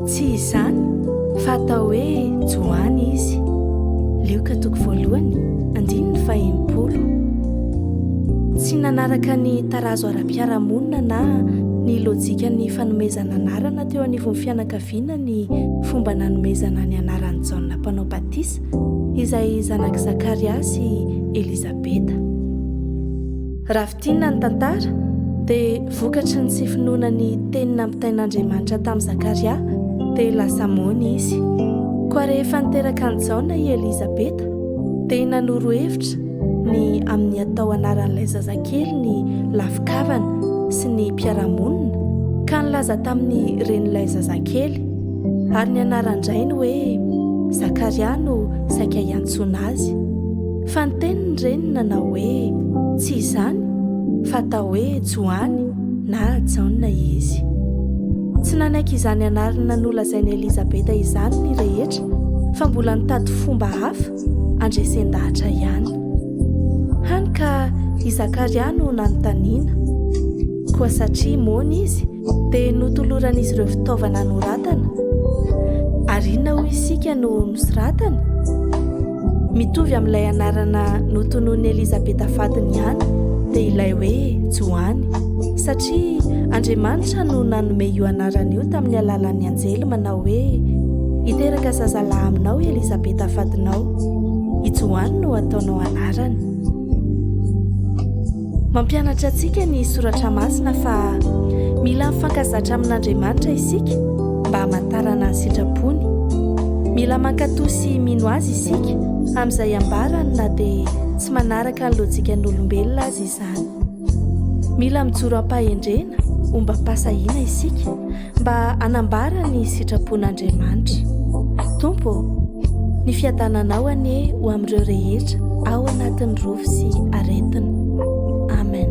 Tsy izany fa atao hoe Joany izy. Lioka toko voalohany, andininy fahenimpolo. Tsy nanaraka ny tarazo ara-piarahamonina na ny lojikan'ny fanomezana anarana teo anivon'ny fianakaviana ny fomba nanomezana ny anaran'i Jaona Mpanao Batisa, izay zanak'i Zakaria sy Elizabeta. Tinona ny tantara dia vokatry ny tsy finoana ny teny nampitain'Andriamanitra tamin'i Zakaria dia lasa moana izy. Koa rehefa niteraka an'i Jaona i Elizabeta dia nanoro hevitra ny amin'ny atao anaran'ilay zazakely ny lafi-kavana sy ny mpiara-monina ka nilaza tamin'ny renin'ilay zazakely ary ny anaran-drainy hoe Zakaria no saika hiantsoana azy. Fa niteny ny reniny nanao hoe, Tsy izany, fa atao hoe Joany na Jaona izy. Tsy nanaiky izany anarana nolazain'i Elizabeta izany ny rehetra, fa mbola nitady fomba hafa handresen-dahatra ihany. Hany ka i Zakaria no nanontaniana. Koa satria moana izy, Dia notoloran'izy ireo fitaovana anoratana. Ary inona hoy isika no nosoratany? Mitovy amin'ilay anarana notononin'i Elizabeta vadiny ihany, dia ilay hoe Joany. Satria Andriamanitra no nanome io anarana io tamin'ny alalan'ny anjely manao hoe hiteraka zazalahy aminao Elizabeta vadinao. I Joany no ataonao anarany. Mampianatra antsika ny Soratra Masina fa mila mifankazatra amin'Andriamanitra isika mba hamantarana ny sitrapony. Mila mankatò sy mino azy isika amin'izay ambarany na dia tsy manaraka ny lojikan'olombelona aza izany. Mila mijoro am-pahendrena, ombam-pahasahiana isika. mba hanambara ny sitrapon'Andriamanitra. Tompo ô, ny fiadananao anie ho amin'ireo rehetra ao anatin'ny rofy sy aretina. Amen.